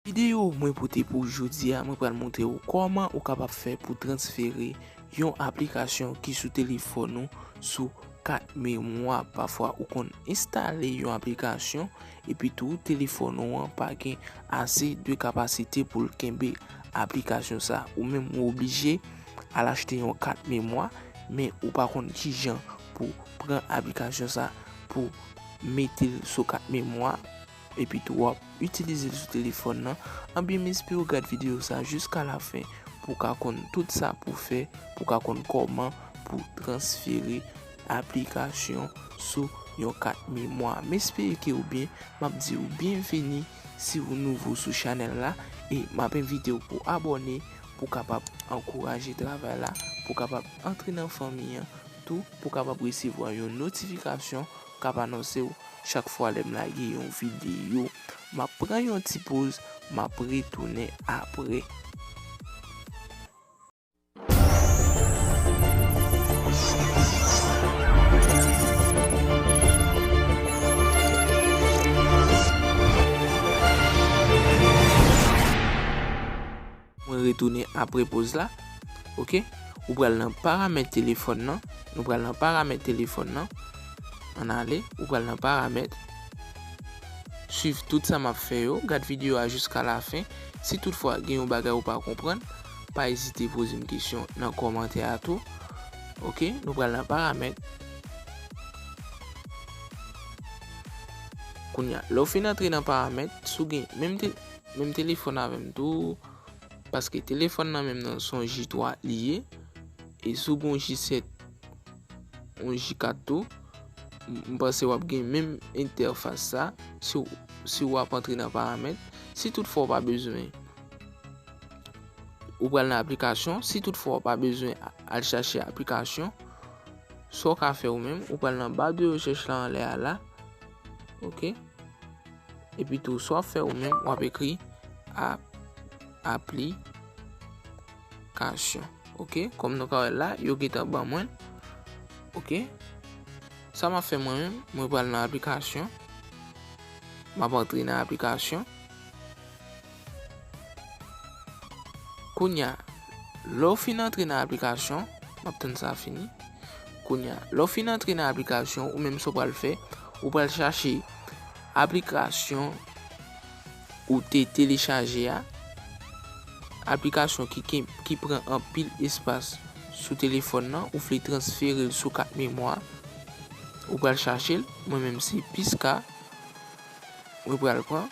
Videyo mwen pote pou jodi a mwen pral montre ou kòman ou kapab fè pou transfere yon aplikasyon ki sou telefòn ou sou kat memwa pafwa ou konn enstale yon aplikasyon epitou telefòn ou an pa gen ase de kapasite pou l kenbe aplikasyon sa ou menm ou oblije al achte yon kat memwa men ou pa konn kijan pou pran aplikasyon sa pou mete l sou kat memwa. Epitou wap itilizel sou telefòn lan, anbyen m esperew gad video sa jiska la fen pou ka konn tout sa pou fè pou ka konn kòman pou transfere aplikasyon sou yon kat memwa. M espere ke ou byen, map diw byenveni si ou nouvo sou chanèl la e map envitew pou abòne pou kapab ankouraje travay la, pou kapab antre nan fanmi an tou pou kapab resevwa yon notifikasyon k ap anonse w chak fwa lè m lage yon videyo. M ap pran yon ti poz, m ap retounen apre. Mwen retounen apre poz la. Ok. Ou pral nan paramèt telefòn nan. Nou pral nan paramèt telefòn nan. An ale. Ou pral nan paramèt. Swiv tout sa map fè yo. Gad videyo a jiska la fen. Si tout fwa gen yon bagay ou pa konprann. Pa ezite poze m kesyon nan kòmantè a tou. Ok. Nou pral nan paramèt. Kounya. Lè ou fin antre nan paramèt. Sou gen menm te. Menm telefòn avèm tou paske telefòn nan menm nan son J3 li ye e si w gen yon J7 yon J4 tou m panse wap gen menm entèfas sa si w ap antre nan paramèt si tout fwa w pa bezwen ou pral nan aplikasyon si tout fwa w pa bezwen al chache aplikasyon sa w ka fè ou menm ou pral nan ba de rechèch la anlè a la ok. Epi tou sa w ap fè ou menm, w ap ekri aplikasyon. Ok, kòm nou ka wè la, yo gentan ban mwen. Ok, sa m ap fè mwen menm, mwen pral nan aplikasyon. M ap antre nan aplikasyon. Kounya lè w fin antre nan aplikasyon m ap tann sa fini kounya lè w fin antre nan aplikasyon ou menm sa w pral fè ou pral chache aplikasyon ou te telechaje a aplikasyon ki pran anpil espas sou telefòn nan ou vle transfere l sou kat memwa ou pral chache l mwen menm se piska mwen pral pran.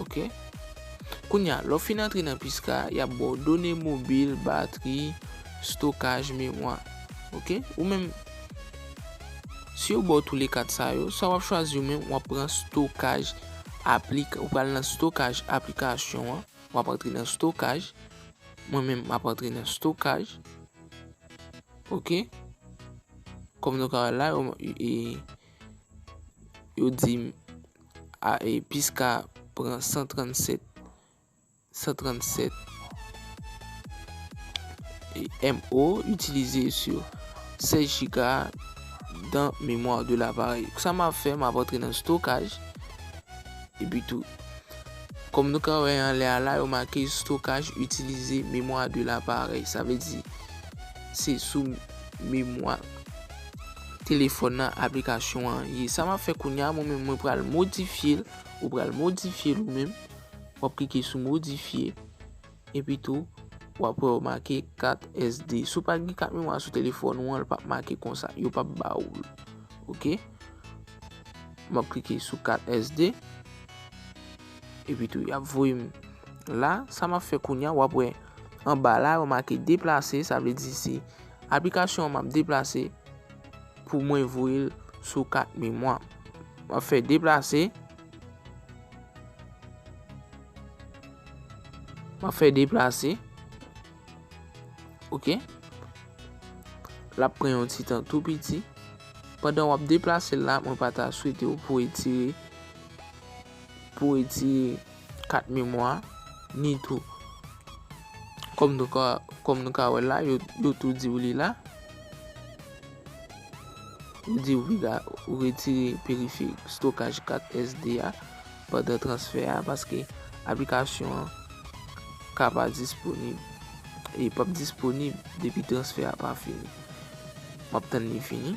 Ok. Kounye a, lè w fin antre nan Pisca, y ap ba w done mobil, batri, stokaj, memwa. Ok. Ou menm, si yo ba w toule kat sa yo, sa w ap chwazi ou menm, w ap pran stokaj aplik, ou pral nan stokaj aplikasyon an, w ap antre nan stokaj. Mwen menm, m ap antre nan stokaj. Ok. Kòm nou ka wè la, yo. Yo dim a e piska pran 137 137 MO itilize sou 16 giga dan memwa de laparèy. Sa m ap fè m ap antre nan stokaj e pi tou. Kòm nou ka wè anlè a la yo make stokaj itilize memwa de laparèy. Sa vle di se sou memwa. telefòn nan aplikasyon an ye sa map fè kounya mwen menm mwen pral modifyel ou pral modifyel ou menm wap klike sou modifye epi tou wap wè yo make kat SD si w pa gen kat memwa sou telefòn ou an li pap make konsa yo pap ba ou l ok map klike sou kat SD epi tou yap voye m la sa map fè kounya wap wè anba la yo make deplase sa vle di se Aplikasyon an map deplase pou mwen voyel sou kat memwa m. Map fè deplase. Map fè deplase. Ok. Lap pran yon ti tan tou piti. Pandan wap deplase la mwen pa ta swete ou pou etire. pou etire kat memwa a, ni tou, kòm nou ka, kòm nou ka wè la, yo, yo tou di ou li la. Yo di ou piga ou retire periferik stokaj kat SD a pandan transfè a, paske aplikasyon an ka pa disponib. Li p ap disponib depi transfè a pa fini. M ap tann li fini.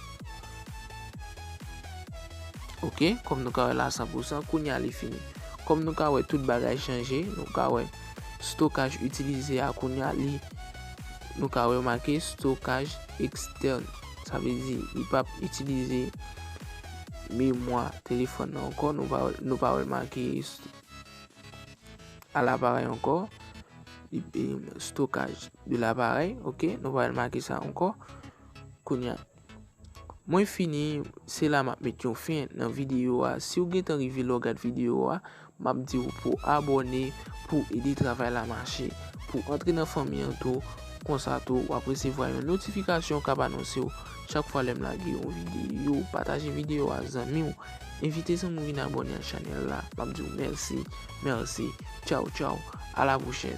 Ok, kòm nou ka wè la 100%, kounye a li fini. Kòm nou ka wè tout bagay chanje, nou ka wè stokaj itilize a kounye a li, nou ka wè make stokaj ekstèn. Sa vle di, li pa ap itilize memwa telefòn nan ankò, nou pa wè l make a laparèy ankò, stokaj de laparèy, ok, nou pa wè l make sa ankò. Kounya Mwen fini se la map met yon fen nan video a siw gentan rive la w gad video a map diw pou abòne pouw ede travay la mache pouw antre nan fanmi an tou konsa tou wap resevwa yon notifikasyon kap anonsew chak fwa lèm lage yon video pataje video a ak zanmiw envite zanmiw vin abòne ak chanèl la map diw mèsi mèsi tchaw tchaw a la pwochèn.